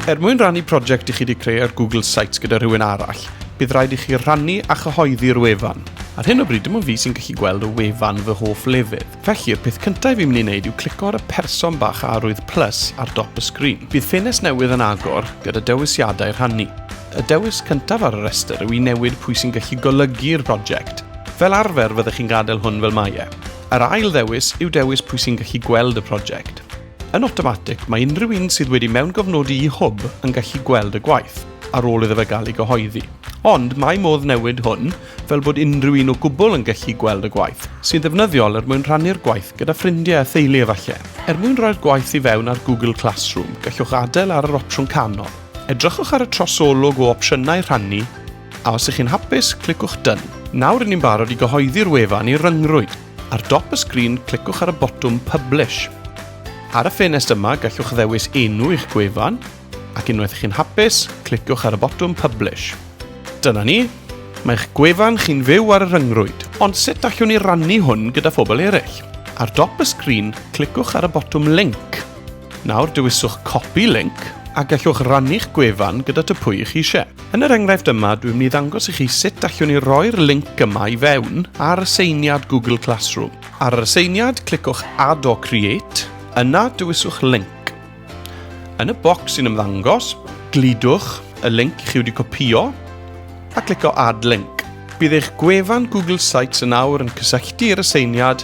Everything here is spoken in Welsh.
Er mwyn rannu prosiect i chi wedi creu ar Google Sites gyda rhywun arall, bydd rhaid i chi rannu a chyhoeddi'r wefan. Ar hyn o bryd dim ond fi sy'n gallu gweld y wefan fy hoff lefydd. Felly, y peth cyntaf fi'n mynd i wneud yw clico ar y person bach arwydd plus ar dop y sgrin. Bydd ffenest newydd yn agor gyda dewisiadau rhannu. Y dewis cyntaf ar y rhestr yw i newid pwy sy'n gallu golygu'r prosiect. Fel arfer fyddech chi'n gadael hwn fel mae e. Yr ail ddewis yw dewis pwy sy'n gallu gweld y prosiect. Yn awtomatig, mae unrhyw un sydd wedi mewngofnodi i Hwb yn gallu gweld y gwaith, ar ôl iddo fe gael ei gyhoeddi. Ond mae modd newid hwn fel bod unrhyw un o gwbl yn gallu gweld y gwaith, sy'n ddefnyddiol er mwyn rhannu'r gwaith gyda ffrindiau a theulu efallai. Er mwyn rhoi'r gwaith i fewn ar Google Classroom, gallwch adael ar yr opsiwn canol. Edrychwch ar y trosolwg o opsiynau rhannu, A os ych chi'n hapus, clicwch Done. Nawr rydyn ni'n barod i gyhoeddi'r wefan i ryngrwyd. Ar dop y sgrin, clicwch ar y botwm Publish. Ar y ffenest yma, gallwch ddewis enw i'ch gwefan, ac unwaith chi'n hapus, cliciwch ar y botwm Publish. Dyna ni, mae'ch gwefan chi'n fyw ar y rhyngrwyd, ond sut allwn ni rannu hwn gyda phobl eraill? Ar dop y sgrin, cliciwch ar y botwm Link. Nawr, dewiswch Copy Link a gallwch rannu'ch gwefan gyda tŷ pwy i chi eisiau. Yn yr enghraifft yma, dwi'n mynd i ddangos i chi sut allwn ni roi'r linc yma i fewn ar aseiniad Google Classroom. Ar yr aseiniad, clicwch Add or Create, yna dewiswch Link. Yn y bocs sy'n ymddangos, gludwch y linc i chi wedi copïo a clicio Add Link. Bydd eich gwefan Google Sites yn awr yn cysylltu i'r aseiniad